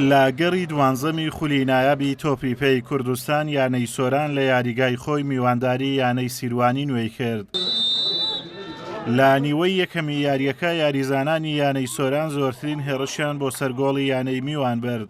لە گەڕی دوانزەمی خولی نایابی تۆپی پێی کوردستان یانەی سۆران لە یاریگای خۆی میوانداری یانەی سیروانی نوێی کرد. لە نیوەی یەکەمی یاریەکە یاریزانانی یانەی سۆران زۆرترین هێڕشیان بۆ سەر گۆڵی یانەی میوان برد.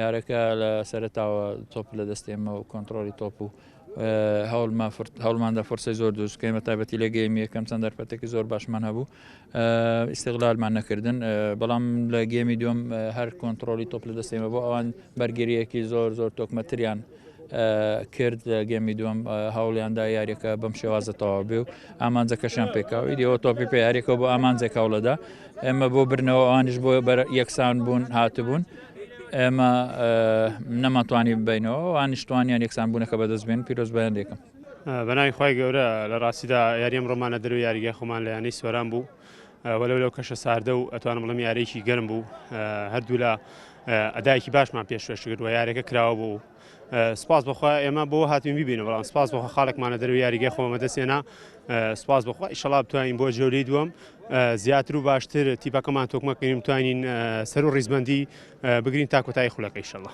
یارەکە لە سەرەتاوە تۆپ لە دەست ئێمە و کۆنتترۆلی تۆپ و هەوڵماندا فرسەی زۆر دروست کەمە تابەتی لە گەیمی یەکەم چەند دەرفەتێکی زۆر باشمان هەبوو ئیسیغلالمان نەکردن بەڵام لە گەمی دوم هەر کۆنتترۆلی تۆپ لە دەستێمە بۆ ئەوان بەرگریەکی زۆر زۆر تۆکمەتریان کرد گەمی دوم هەوڵیاندا یاریەکە بەم شێوازە تەواو بێ و ئامانجەکەشیان پێکاوی دیەوە تۆپی پێ یاریەکە بۆ ئامانجێک هەوڵەدا ئێمە بۆ برنەوە ئەوانش بۆ بەر یەکسان بوون هاتبوون ئێمە نەماتوانی ببینەوە وانیشتوانیان یەکسان بوونەکە بەدەست بێن پیرۆز بەیان دێکم بەناوی خی گەورە لە ڕاستیدا یاریم ڕۆمانە دەرو یاریگە خۆمان لە یانەی سۆران بوو وەلو لەو کەشە ساردە و ئەتوانم بڵم یارێکی گەرم بوو هەردوولا ئەدایەکی باشمان پێشکەش کرد و یاریەکە کراوە بوو سپاس بخوا ئێمە بۆ هاتین ببینە بەڵام سپاس بۆ خاڵێکمانە دەروی یاریگە خۆمە دەستێنا سپاس بخوا ئیشەڵا بتوانین بۆ جۆری دووەم زیاتر و باشتر تیپەکەمان تۆکمەکەین توانین سەر و ڕیزبندی بگرین تا کۆتایی خولەکە ئیشەڵە.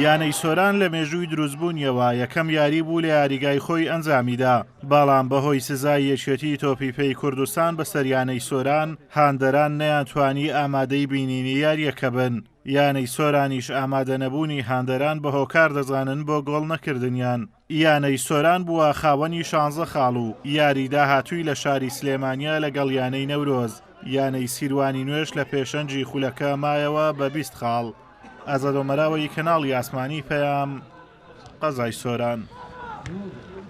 یانەی سۆران لە مێژووی دروستبوونیەوە یەکەم یاری بوو لە یاریگای خۆی ئەنجامیدا بەڵام بەهۆی سزای یەکێتی تۆپی پێی کوردستان بەسەریانەی سۆران هاندەران نەیانتوانی ئامادەی بینینی یارییەکە بن، یانەی سۆرانیش ئامادەنەبوونی هاندەران بە هۆکار دەزانن بۆ گۆڵ نەکردنیان، یانەی سۆران بووە خاوەنی شانزە خاڵ و یاری داهاتووی لە شاری سلێمانییە لەگەڵ یانەی نەورۆز، یانەی سیروانی نوێش لە پێشەنگی خولەکە مایەوە بە بیست خاڵ. ئازاد ئۆمەراوەیی کەناڵی ئاسمانی پەیام، قەزای سۆران.